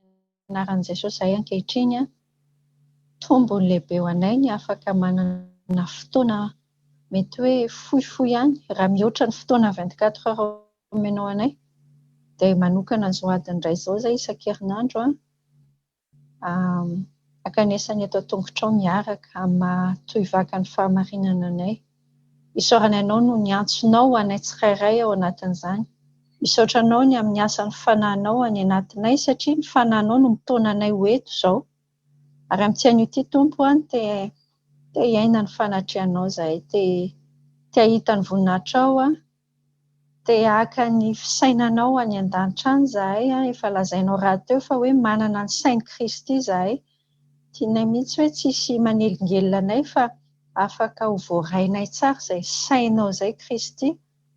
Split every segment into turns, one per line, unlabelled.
Amin'ny anaran'i Jesosy izahay ankehitriny an, tombony lehibe ho anay ny afaka manana fotoana mety hoe fohifohy ihany, raha mihoatra ny fotoana vingt quatre heures omenao anay, dia manokana izao adiny iray izao izahay isan-kerinandro an, Ankanesa ny eto an-tongotrao miaraka amin'ny maha-tohivakan'ny fahamarinana anay. Isaorana Ianao noho ny antsonao ho anay tsirairay ao anatin'izany. Misaotra Anao ny amin'ny asan'ny Fanahinao any anatinay satria ny Fanahinao no mitaona anay ho eto izao. Ary amin'ity anio ity, Tompo an, te te-hiaina ny fanatrehanao izahay, te te-hahita ny voninahitrao aho, Te haka ny fisainanao any an-danitra any izahay an, efa lazainao rahateo fa hoe manana ny sain'i Kristy izahay, tianay mihitsy hoe tsy hisy manelingelina anay fa afaka ho voarainay tsara izay sainao izay Kristy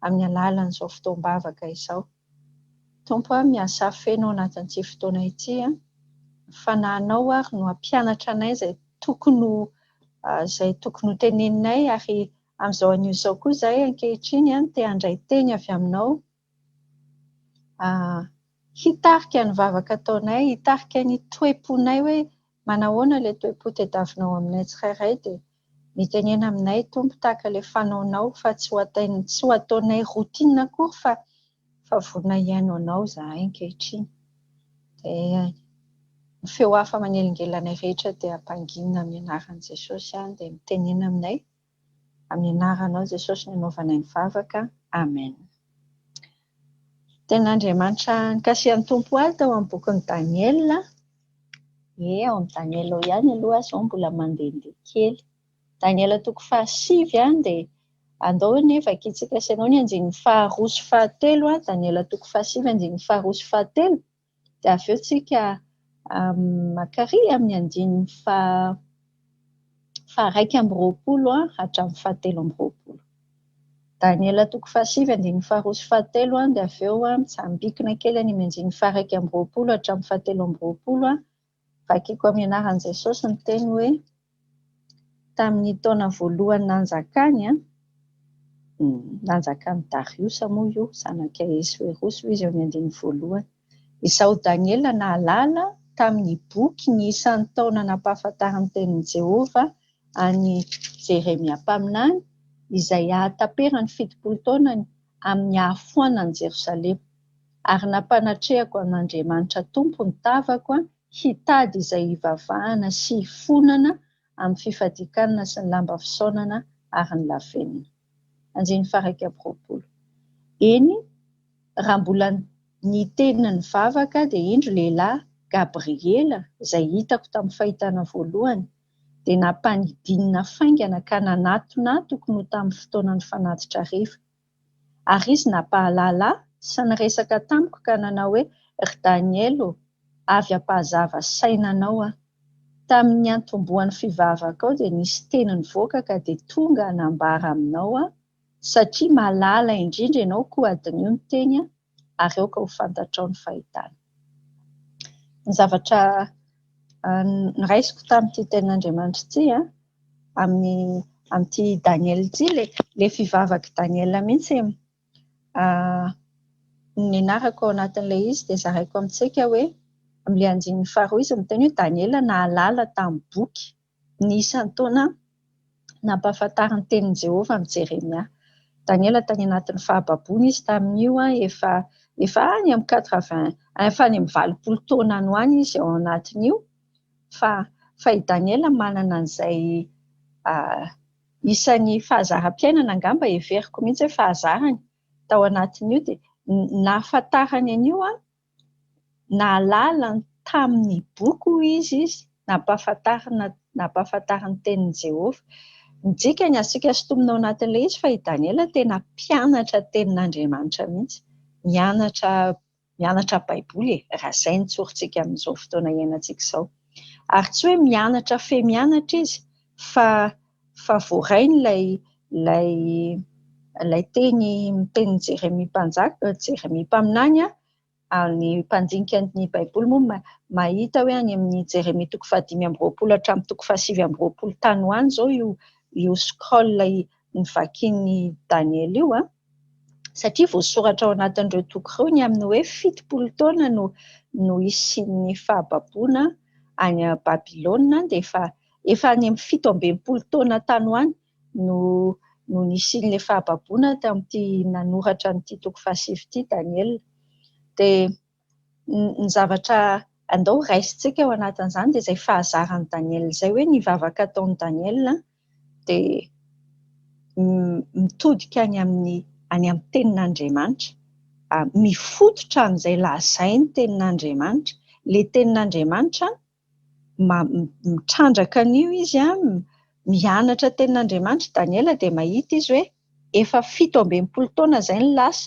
amin'ny alalan'izao fotoam-bavaka izao. Tompo an, miasà feno ao anatin'ity fotoana ity an, ny Fanahinao ary no hampianatra anay izay tokony ho izay tokony ho teneninay ary Amin'izao anio izao koa izahay ankehitriny no te handray teny avy aminao, hitarika ny vavaka ataonay, hitarika ny toe-ponay hoe manahoana ilay toe-po tadiavinao aminay tsirairay dia mitenena aminay Tompo tahaka ilay fanaonao fa tsy ho ataonay routine akory fa fa vonona hihaino anao izahay ankehitriny. Dia ny feo hafa manelingelina anay rehetra dia ampanginina amin'ny anaran'i Jesosy ihany dia mitenena aminay. Amin'ny anaranao Jesosy no anaovanay ny vavaka, Amen. Tenin'Andriamanitra nikasihan'ny Tompo ahy tao amin'ny bokin'i Daniela, ie ao amin'ny Daniela ao ihany aloha aho izao mbola mandehandeha kely, Daniela toko fahasivy an, dia andao anie vakintsika sy ianao ny andininy faharoa sy fahatelo an, Daniela toko fahasivy andininy faharoa sy fahatelo, Dia avy eo tsika mankary amin'ny andininy faha-iraika amby roapolo hatramin'ny fahatelo amby roapolo. Daniela toko fahasivy andininy faharoa sy fahatelo dia avy eo mitsambikina kely any amin'ny andininy faha-iraika amby roapolo hatramin'ny fahatelo amby roapolo Vakiko amin'ny anaran'i Jesosy ny teny hoe, tamin'ny taona voalohany nanjakany, nanjakan'i Dariosa moa io, zanak'i Ahesoerosy io izy eo amin'ny andininy voalohany. Izaho Daniela nahalala tamin'ny boky ny isan'ny taona nampahafantarin'ny tenin'i Jehovah an'i Jeremia mpaminany, izay hahataperany fitopolo taonany amin'ny hahafoanan'i Jerosalema. ary nampanatrehako an' Andriamanitra Tompo ny tavako hitady izay hivavahana sy hifonana amin'ny fifadian-kanina sy ny lamba fisaonana ary ny lavenona. Andininy faha-iraika amby roapolo. Eny, raha mbola niteny nivavaka dia indro lehilahy, Gabriela, izay hitako tamin'ny fahitana voalohany, dia nampanidinina faingana ka nanatonatoko no tamin'ny fotoanan'ny fanatitra hariva. Ary izy nampahalala ahy sy niresaka tamiko ka nanao hoe, Ry Daniela ô, avy hampahazava saina anao aho. Tamin' ny niantombohan' ny fivavakao dia nisy teny nivoaka ka dia tonga hanambara aminao aho, satria malala indrindra ianao koa hadinio ny teny aho. ary aoka ho fantatrao ny fahitana. Ny zavatra noraisiko tamin'ity tenin'Andriamanitra ity amin'ny amin'ity Daniela ity, ilay ilay fivavak'i Daniela mihitsy e! nianarako ao anatin'ilay izy dia zaraiko amintsika hoe, amin'ilay andininy faharoa izy miteny hoe Daniela nahalala tamin'ny boky. ny isan-taona nampahafantarin'ny tenin'i Jehovah an'i Jeremia. Daniela tany anatin'ny fahababoana izy tamin'io, efa efa any amin'ny quatre vingt, efa any amin'ny valopolo taona any ho any izy ao anatin'io, fa fa i Daniela manana an'izay isan'ny fahazaram-piainana angamba heveriko mihitsy hoe fahazarany tao anatin'io, dia nahafantarany an'io an! nahalala ny tamin'ny boky, hoy izy, nampahafantarina nampahafantarin'ny Tenin'i Jehovah. Ny dikany, Asiaka sintonina ao anatin'ilay izy fa i Daniela tena mpianatra Tenin'Andriamanitra mihitsy, mianatra mianatra Baiboly e! raha izay no tsorintsika amin'izao fotoana iainantsika izao. Ary tsy hoe mianatra fehimianatra izy fa fa voarainy ilay ilay ilay teny tenin'i Jeremia mpanjaka, Jeremia mpaminany an, ary ny mpandinika ny Baiboly moa mahita hoe any amin'ny Jeremia toko fahadimy amby roapolo hatramin'ny toko fahasivy amby roapolo tany ho any izao io io scroll novakian'i Daniela io an, satria voasoratra ao anatin'ireo toko ireo ny amin'ny hoe fitopolo taona no no hisian'ny fahababoana any Babylona dia efa Efa any amin'ny fito amby enimpolo taona tany ho any no no nisian'ilay fahababoana tamin'ity nanoratra an'ity toko fahasivy ity Daniela. Dia ny zavatra andao raisintsika ao anatin'izany dia izay fahazaran'i Daniela izay hoe ny vavaka ataon'i Daniela dia mitodika any amin'ny any amin'ny tenin'Andriamanitra, mifototra amin'izay lazain'ny tenin'Andriamanitra. Ilay tenin'Andriamanitra mitrandraka an'io izy an, mianatra tenin'Andriamanitra i Daniela dia mahita izy hoe efa fito ambin'ny folo taona izay no lasa,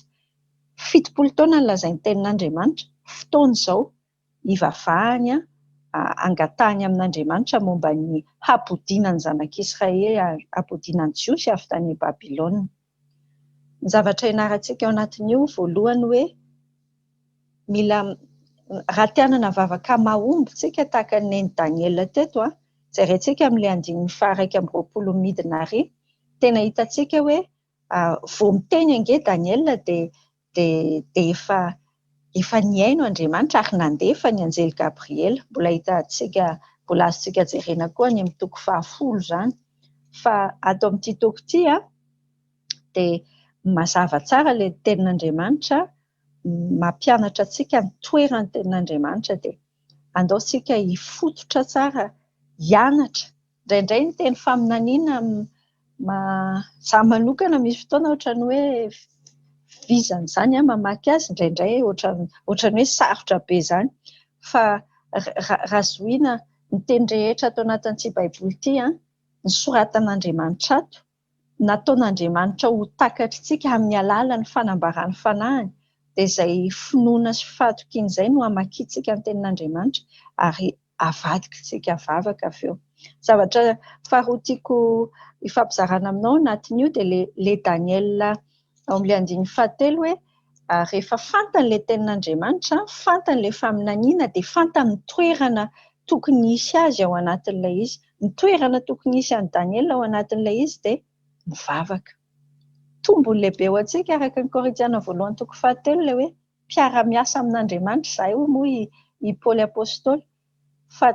fitopolo taona no lazain'ny tenin'Andriamanitra, fotoana izao hivavahany an, hangatahany amin'Andriamanitra momba ny habodiana ny zanak'Israely, habodiana ny Jiosy avy tany Babylona. Ny zavatra ianarantsika ao anatin'io voalohany hoe mila raha te hanana vavaka mahomby isika tahaka ny nen'i Daniela teto a, jerentsika amin'ilay andininy faha-iraika amby roapolo midina ary, tena hitantsika hoe vao miteny ange Daniela dia dia efa efa nihaino Andriamanitra ary nandefa ny anjely Gabriela. Mbola hitantsika, mbola azontsika jerena koa any amin'ny toko fahafolo izany. Fa ato amin'ity toko ity dia mazava tsara ilay tenin'Andriamanitra, mampianatra antsika ny toeran'ny tenin'Andriamanitra. Dia andao isika hifototra tsara hianatra. Indraindray ny teny faminaniana izaho manokana misy fotoana ohatran'ny hoe vizana izany aho mamaky azy, indraindray ohatran'ny hoe sarotra be izany fa raha zohiana ny teny rehetra ato anatin'ity baiboly ity, ny soratan'Andriamanitra ato nataon'Andriamanitra ho takatr'tsika amin'ny alalan'ny fanambarany fanahiny dia izay finoana sy fahatokian'izay no hamakiantsika ny tenin'Andriamanitra ary avadik'tsika vavaka avy eo. Zavatra faharoa tiako hifampizarana aminao anatin'io dia le le Daniela Ao amin'ilay andininy fahatelo hoe, ary rehefa fantany ilay tenin'Andriamanitra, fantany ilay faminaniana, dia fantany ny toerana tokony hisy azy ao anatin'ilay izy. Ny toerana tokony hisy an'i Daniela ao anatin'ilay izy dia mivavaka. Tombony lehibe ho antsika araka ny Korintiana voalohany toko fahatelo ilay hoe mpiara-miasa amin'Andriamanitra izahay, hoy moa i Paoly Apostoly. fa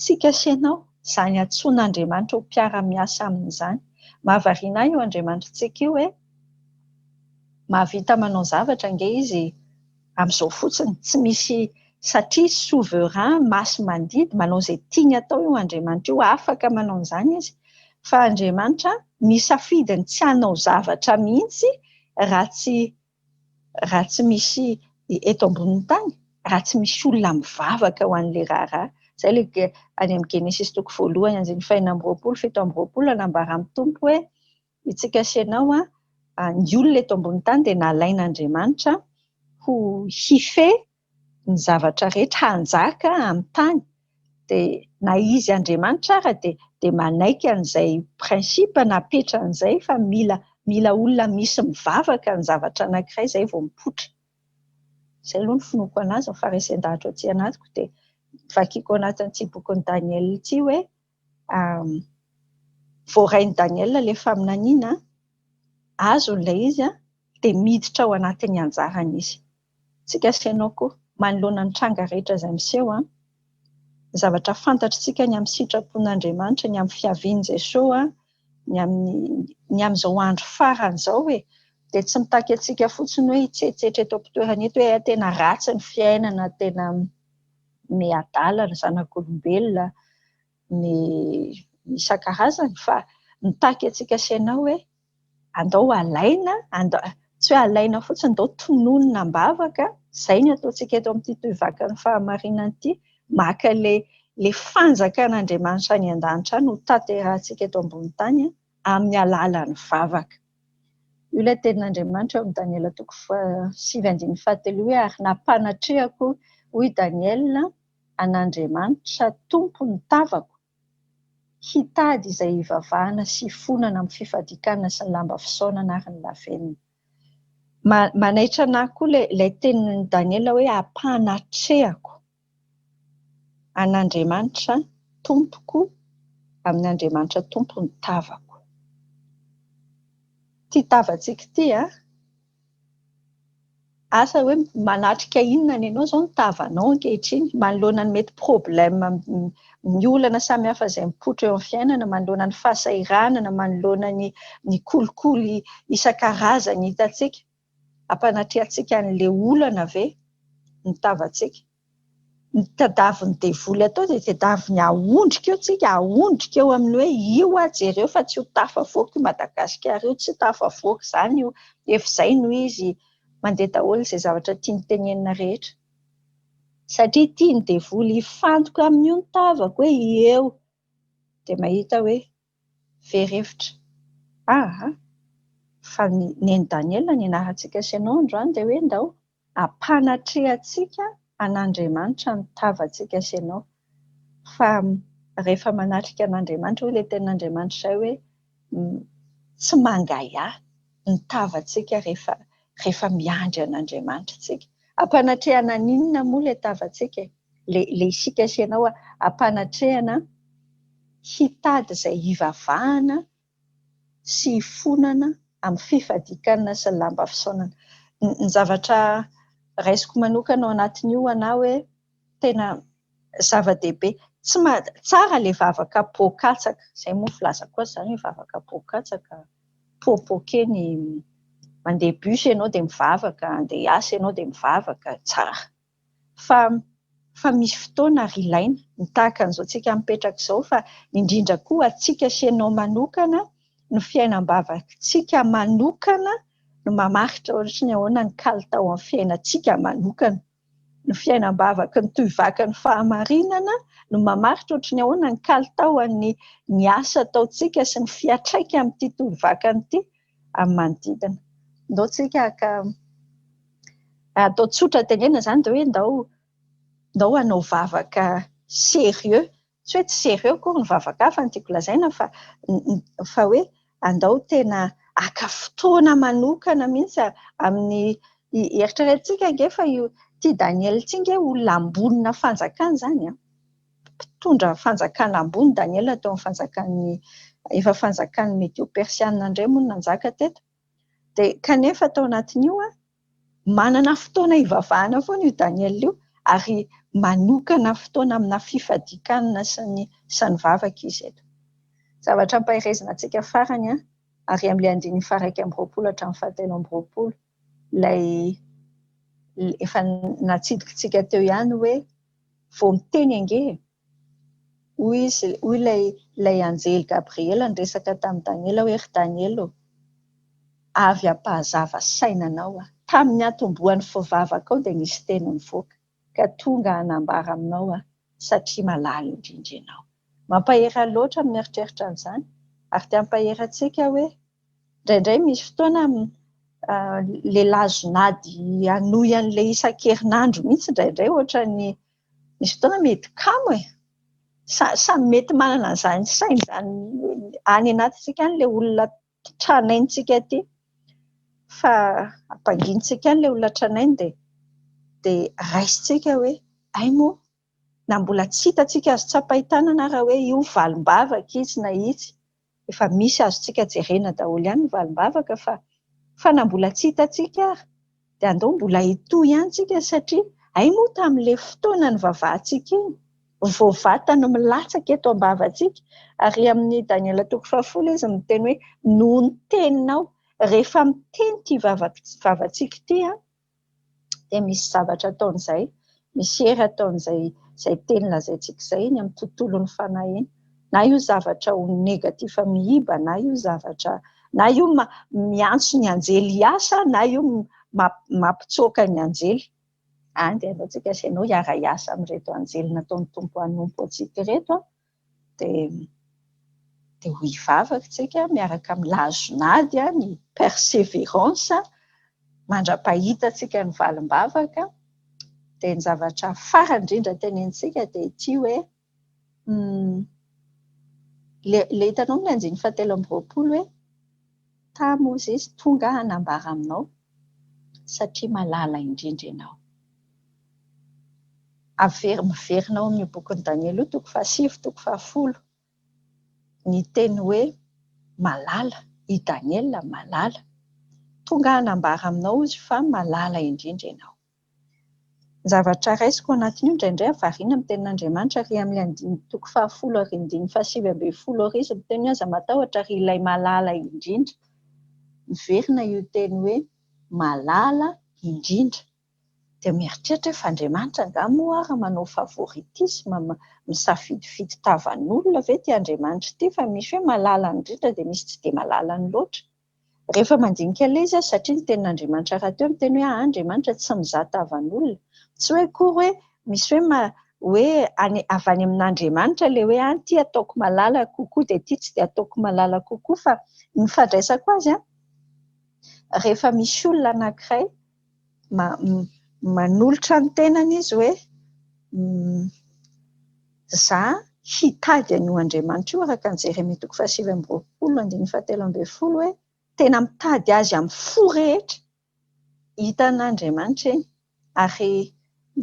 tsika sy ianao, izany antsoin'Andriamanitra ho mpiara-miasa aminy izany. Mahavariana ahy io Andriamanitritsika io hoe, mahavita manao zavatra ange Izy amin'izao fotsiny, tsy misy, satria Izy souverain, masi-mandidy, manao izay tiany atao io Andriamanitra io, afaka manao an'izany Izy. Fa Andriamanitra misafidy ny tsy hanao zavatra mihitsy raha tsy raha tsy misy eto ambonin'ny tany, raha tsy misy olona mivavaka ho an'ilay raharaha. Izay ilay any amin'ny Genesisy toko voalohany andininy fahenina amby roapolo, fito amby roapolo, anambaran'ny Tompo hoe, Isika sy ianao, ny olona eto ambonin'ny tany dia nalain'Andriamanitra ho hifehy ny zavatra rehetra hanjaka amin'ny tany dia na izy Andriamanitra ara dia manaiky an'izay principe napetrany izay fa mila mila olona misy mivavaka ny zavatra anankiray izay vao mipoitra. Izay aloha ny finoako anazy, ny faharesen-dahatra aty anatiko dia vakiko ao anatin'ity bokin'i Daniela ity hoe voarain'i Daniela ilay faminaniana, azony ilay izy dia miditra ao anatin'ny anjarany izy. Isika sy ianao koa, manoloana ny tranga rehetra izay miseho, ny zavatra fantatr'isika ny amin'ny sitrapon'Andriamanitra, ny amin'ny fiavian'i Jesoa, ny amin'ny ny amin'izao andro farany izao e, dia tsy mitaky antsika fotsiny hoe hitsetsetra eto am-pitoerana eto hoe tena ratsy ny fiainana, tena... ny adala, ny zanak'olombelona, ny isan-karazany fa mitaky antsika sy anao hoe andao alaina, tsy hoe alaina fotsiny, andao tononina am-bavaka, izay no ataontsika eto amin'ity Tohivakan'ny Fahamarinana ity, maka ilay fanjakan'Andriamanitra any an-danitra any hotanterahintsika eto ambonin'ny tany amin'ny alalan'ny vavaka. Io ilay tenin'Andriamanitra ao amin'ny Daniela toko fahasivy andininy fahatelo hoe, ary nampanatrehako, hoy i Daniela, an'Andriamanitra Tompon'ny tavako, hitady izay hivavahana sy hifonana amin'ny fifadikanana sy ny lamba fisaonana ary ny lavenona. Manaitra anà koa ilay tenin'i Daniela hoe ampanatrehako. an'Andriamanitra tompoko, amin'Andriamanitra Tompo ny tavako. Ity tavantsika ity an, asa hoe manatrika inona ny anao izao ny tavanao ankehitriny, manoloana ny mety problème, ny olana samihafa izay mipoitra eo amin'ny fiainana, manoloana ny fahasahiranana, manoloana ny kolikoly isan-karazany hitantsika. Hampanatrehantsika an'ilay olana ve ny tavantsika? Ny tadiavin'ny devoly atao dia tadiaviny hahondrika eo tsika, hahondrika eo amin'ny hoe io hoa jereo fa tsy ho tafavoaka i Madagasikara io, tsy tafavoaka izany io, efa izay no izy, mandeha daholo izay zavatra tiany tenenina rehetra. Satria tian'ny devoly hifantoka amin'io ny tavako hoe eo, dia mahita hoe. very hevitra. Ah ah! Fa ny Neny Daniela nianarantsika sy ianao androany dia hoe ndao hampanatrehantsika an'Andriamanitra ny tavantsika sy ianao. Fa rehefa manatrika an'Andriamanitra, hoy ilay tenin'Andriamanitra izay hoe tsy mangahiahy ny tavantsika rehefa Rehefa miandry an'Andriamanitra tsika, ampanatrehana an'inona moa le tavantsika e? Le le isika sy ianao ampanatrehana hitady zay hivavahana sy hifonana amin'ny fifadikanana sy ny lamba fisaonana. Ny zavatra raisiko manokana ao anatin'io ho anà hoe tena zava-dehibe. Tsy ma- tsara ilay vavaka poa-katsaka, izay moa filaza koa izany hoe vavaka poa-katsaka, popoke ny, mandeha bus ianao dia mivavaka, handeha hiasa ianao dia mivavaka, tsara. Fa fa misy fotoana ary ilaina, ny tahaka an'izao tsika mipetraka izao fa indrindra koa ho antsika sy ianao manokana, ny fiainam-bavakintsika manokana no mamaritra ohatry ny ahoana ny kalitao amin'ny fiainantsika manokana. ny fiainam-bavaky ny tohivaky ny fahamarinana no mamaritra ohatry ny ahoana ny kalitaon'ny ny asa ataontsika sy ny fiantraikany amin'ity tohivakany ity amin'ny manodidina. Ndao tsika haka atao tsotra tenenina izany dia hoe ndao ndao hanao vavaka sérieux. Tsy hoe tsy sérieux akory ny vavaka fa ny tiako lazaina fa fa hoe andao tena haka fotoana manokana mihitsy amin'ny eritreretintsika ange fa io ity Daniel ity ange olona ambonina fanjakana izany an! mpitondra fanjakana ambony Daniel teo amin'ny fanjakan'ny efa fanjakan'ny medio persiana indray moa no nanjaka teto Dia kanefa tao anatin'io manana fotoana hivavahana foana io Daniela io ary manokana fotoana amina fifadian-kanina sy ny sy ny vavaka izy eto. Zavatra ampaherezina antsika farany ary amin'ilay andininy faha-iraika amby roapolo hatramin'ny fahatelo amby roapolo ilay efa natsidikintsika teo ihany hoe vao miteny ange e! Hoy izy, hoy ilay, ilay anjely Gabriela niresaka tamin'i Daniela hoe, Ry Daniela ô, avy hampahazava saina anao aho. Tamin'ny niantombohan'ny fivavakao dia nisy teny nivoaka, ka tonga hanambara aminao aho, satria malaly indrindra ianao. Mampahery ahy loatra ny mieritreritra an'izany, ary te hampahery antsika hoe, indraindray misy fotoana lehilahy zon'ady hanohy an'ilay isan-kerinandro mihitsy indraindray, ohatran'ny. Misy fotoana mety kamo e! Samy mety manana an'izany saina izany any anatintsika any ilay olona tranaintsika aty fa ampanginintsika any ilay olona tranainy dia dia raisintsika hoe hay moa na mbola tsy hita antsika azo tsapain-tanana ary hoe io valim-bavaka izy na itsy efa misy azontsika jerena daholo ihany ny valim-bavaka fa fa na mbola tsy hitantsika ary dia andao mbola hitohy ihany tsika satria hay moa tamin'ilay fotoana nivavahantsika iny vao vata no milatsaka eto am-bavantsika ary amin'ny Daniela toko fahafolo izy miteny hoe noho ny teninao rehefa miteny ity vavantsika ity an dia misy zavatra ataon'izay, misy hery ataon'izay izay teny lazaintsika izay eny amin'ny tontolon'ny fanahy eny. Na io zavatra ho negatif miiba, na io zavatra, na io miantso ny anjely hiasa, na io mampitsoaka ny anjely. Dia aleontsika sy ianao hiara-hiasa amin'ireto anjely nataon'ny Tompo hanompo antsika ireto. dia dia ho hivavaka isika miaraka amin'ny lazon'ady ny perseverance mandra-pahitantsika ny valim-bavaka dia ny zavatra farany indrindra tenenintsika dia ity hoe ilay ilay hitanao amin'ny andininy fahatelo amby roapolo hoe Tà Mosesy tonga hanambara aminao, satria malala indrindra ianao. Aver, miverina ao amin'io bokin'i Daniela io, toko fahasivy, toko fahafolo, ny teny hoe malala, i Daniela malala. Tonga hanambara aminao izy fa malala indrindra ianao. Ny zavatra raisiko ao anatin'io indraindray aho variana amin'ny tenin'Andriamanitra ary amin'ilay andininy toko fahafolo ary andininy fahasivy ambin'ny folo ary izy miteny hoe aza matahotra ry ilay malala indrindra. Miverina io teny hoe malala indrindra. Dia mieritreritra aho fa Andriamanitra angaha moa ary manao favoritisme, misafidifidy tavan'olona ve ity Andriamanitra ity fa misy hoe malala indrindra dia misy tsy dia malalany loatra. Rehefa mandinika ilay izy aho satria ny tenin'Andriamanitra rahateo miteny hoe Andriamanitra tsy mizaha tavan'olona. Tsy hoe akory hoe misy hoe ma, hoe any, avy any amin'Andriamanitra ilay hoe an, ity ataoko malala kokoa dia ity tsy dia ataoko malala kokoa fa ny fandraisako azy an, rehefa misy olona anankiray, manolotra ny tenany izy hoe za hitady an'io Andriamanitra io araka ny Jeremia toko fahasivy amby roapolo andininy fahatelo ambin'ny folo hoe tena mitady azy amin'ny fo rehetra hitan'Andriamanitra eny ary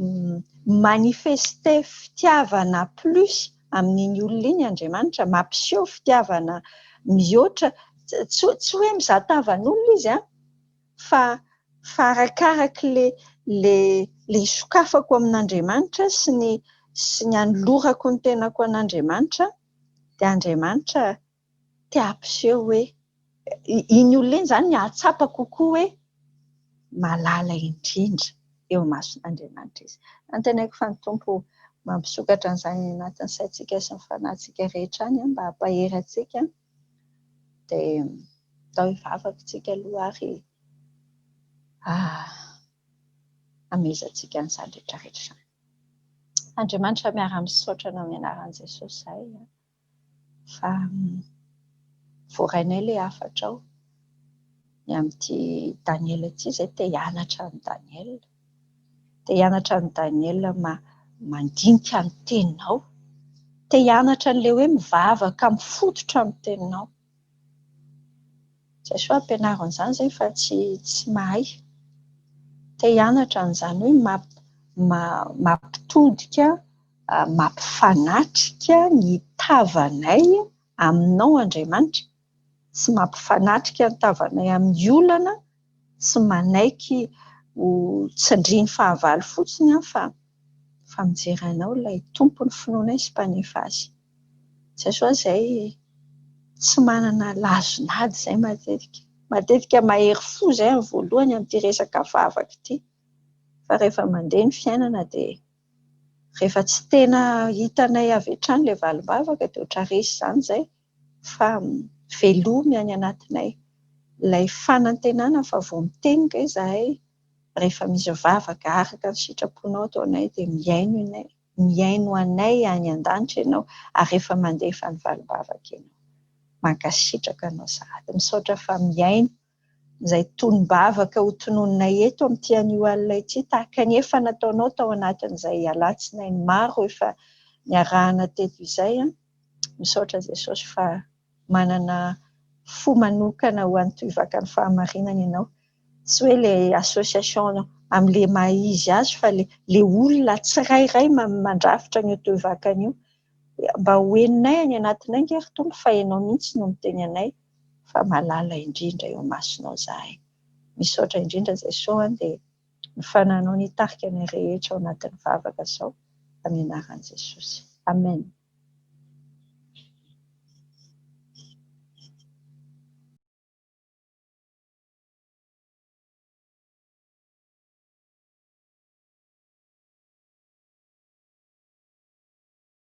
mi-manifester fitiavana plus amin'iny olona iny Andriamanitra, mampiseho fitiavana mihoatra, tsy hoe mizaha tavan'olona izy an! fa fa arakaraka ilay ilay ilay isokafako amin'Andriamanitra sy ny sy ny anolorako ny tenako an'Andriamanitra dia Andriamanitra te hampiseho hoe iny olona iny izany hahatsapa kokoa hoe malala indrindra eo imason'Andriamanitra izy. Antenaiko fa ny Tompo mampisokatra an'izany anatin'ny saintsika sy ny fanahintsika rehetra any mba hampahery antsika dia atao hivavaka isika aloha ary hamehezantsika an'izany rehetra rehetra izany. Andriamanitra miara-misaotra anao amin'ny anaran'i Jesosy izahay fa voarainay ilay hafatrao ny amin'ity Daniela ity, izahay te hianatra an'i Daniela. Te hianatra an'i Daniel mandinika ny teninao. Te hianatra an'ilay hoe mivavaka mifototra amin'ny teninao. Jesoa ampianaro an'izany izay fa tsy tsy mahay. Te hianatra an'izany hoe mampitodika, mampifanatrika ny tavanay aminao Andriamanitra. tsy mampifanatrika ny tavanay amin'ny olana sy manaiky ho tsindrian'ny fahavalo fotsiny aho fa fa mijery anao ilay tompon'ny finoanay sy mpanefa azy. Izay sao izay tsy manana lazon'ady izay matetika. Matetika mahery fo izay amin'ny voalohany amin'ity resaka vavaka ity fa rehefa mandeha ny fiainana dia rehefa tsy tena hitanay avy hatrany ilay valim-bavaka dia ohatra resy izany izay dia fa velomy any anatinay ilay fanantenana fa vao miteny indray izahay rehefa misy vavaka araka ny sitraponao ataonay dia mihaino ianay, mihaino anay any an-danitra ianao ary rehefa mandefa ny valim-bavaka ianao. Mankasitraka anao sahady. Misaotra fa mihaino. izay tonom-bavaka ho tononinay eto amin'ity anio alina ity, tahaka ny efa nataonao tao anatin'izay alatsinainy maro efa niarahana teto izay. Misaotra Jesosy fa manana fo manokana ho an'ny Tohivakan'ny Fahamarinana ianao. Tsy hoe ilay association amin'ilay maha izy azy fa ilay olona tsirairay mandrafitra an'io Tohivakana io. Mba ho henonay any anatinay ange ry Tompo fa ianao mihitsy no miteny anay. fa malala indrindra eo imasonao izahay. Misaotra indrindra Jesosy an dia ny fananao no hitarika ny rehetra ao anatin'ny vavaka zao amin'ny anaran'i Jesosy. Amen.